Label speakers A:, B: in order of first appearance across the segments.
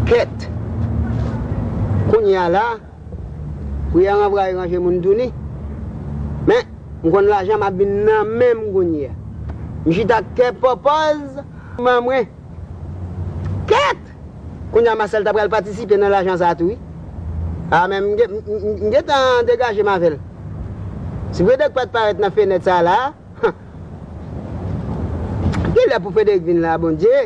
A: Kèt! Kounye a la, priyè ranvwaye ranje moun touni. Men, m konn lajan m ap vin nan men m kounye a. M chita ak kè pòpòz nan mwen. Kèt! Kounye a Masèl ta pral patisipe nan lajan sa a tou wi. A men m gen tan degaje m avè l. Si Fredèk pa t parèt nan fenèt sa a la a, Gen lè pou Fredèk vin la a Bondye!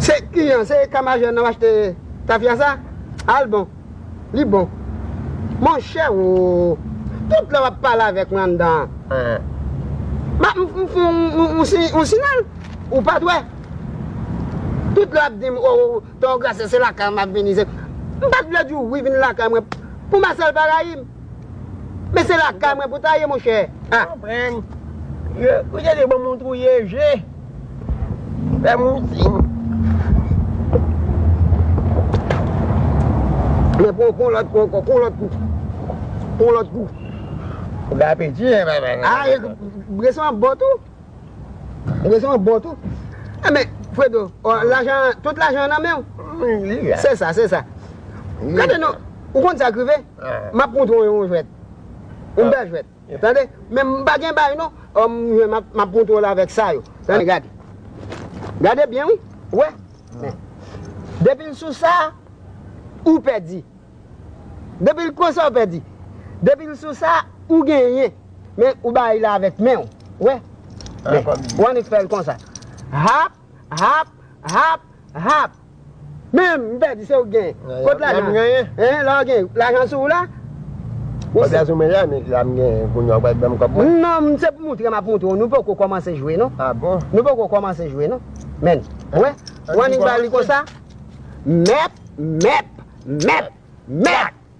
A: Se ki an se eta majè nan achte tafya sa a l bon li bon monchè oo tout lè wap pale avèk mwen anndan an map m fè yon siyal ou pat wè tout lè wap di m oo ton gracia se lakay ou map vini m pat vle di w wi vin lakay mwen pou Marcel pa rayi m. Men se lakay mwen pou ta ye monchè a.
B: Konprann. Yo ou te di bon moun touye je. Fè moun siy.
A: Men pou pou lòt kou ankò pou lòt kou. Pou lòt kou. Ou gen
B: apeti e baba. A
A: e breson an bon tou. Breson an bon tou. E men fredo lajan tout lajan an nan menw. Li la. Se sa se sa. Gade non ou konn sa k rive. Map montre w yon jwèt. Yon bèl jwèt. Tande. Men m pa gen bay non. Humm m jwenn map montre w l avèk sa yo. Tande gade. Gade byen wi. Ou wè? Men. Depi l sou sa, ou pèdi. Depi l konsa ou pèdi. Depi l sou sa, ou genyen. Men ou bay la avèk men w. Ou wè? Men. Ou annik fè l konsa. Hap, hap, hap, hap. Menm, m fè di se ou k gen. Kot lajan? Lè m genyen. Hein, lè w genyen. Lajan sou ou la? Wap
B: vin sou mwen la, men la m genyen kounye a ou pral
A: ban m kòb mwen? Non, se pou moutre m ap moutre w. Nou poko kòmanse jwe non. Ah bon? Nou poko
B: kòmanse jwe
A: non. Men, ou wè? Ou annik ba li konsa? Mèp, mèp, mèp, mèp!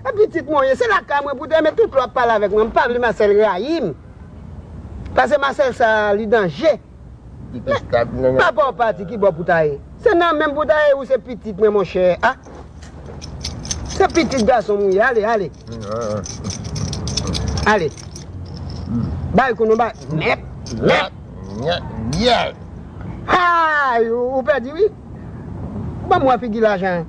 A: E pitit mwen w ye, se lakay mwen pou w te renmen tout lè w ap pale avèk mwen. M pa vle Marcel rayi m. Pase Marcel sa a, li danje. Men, papa w pati, ki bò pou w ta ye? Se nan men m pou w ta ye, ou se pitit mwen monchè a. Se pitit gason m ou ye, ale, ale. Ale. Bay kou nou bay. Mèt, mèt. Mèt, mèt. Hay! Ou pèdi wi. Ban mwen figi lajan an.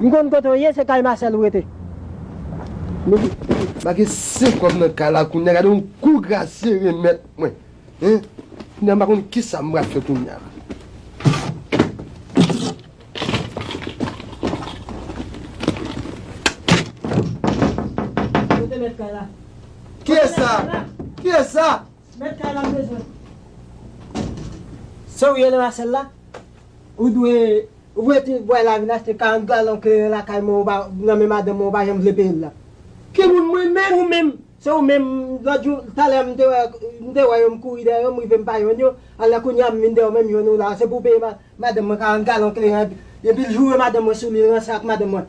C: M konn kote w ye se kay Marcel ou rete.
D: Mezanmi make se kòm nan kay la kounya gade yon kou Gracie remèt mwen hein kounya m pa konn kisa m pral fè kounya. Kote mèt kay la? Kiyès sa? Kiyès sa? Mèt kay la m bezwen. Se ou ye le Marcel la? Ou
C: dwe. Ou vle di bway la vin achte 40 galon kleren lakay mwen ou pa nan men madanm mwen ou pa janm vle peyel la. Ki moun mwen menm? Ou menm? Se ou menm, lòt jou, talè m te wè, m te wè yo m kouri dèyè yo m rive m pa jwenn yo, alè kounya m vin dèyè w menm jwenn ou la, se pou w peye madanm mwen 40 galon kleren, epil joure madanm mwen sou li l ranse ak madanm mwen.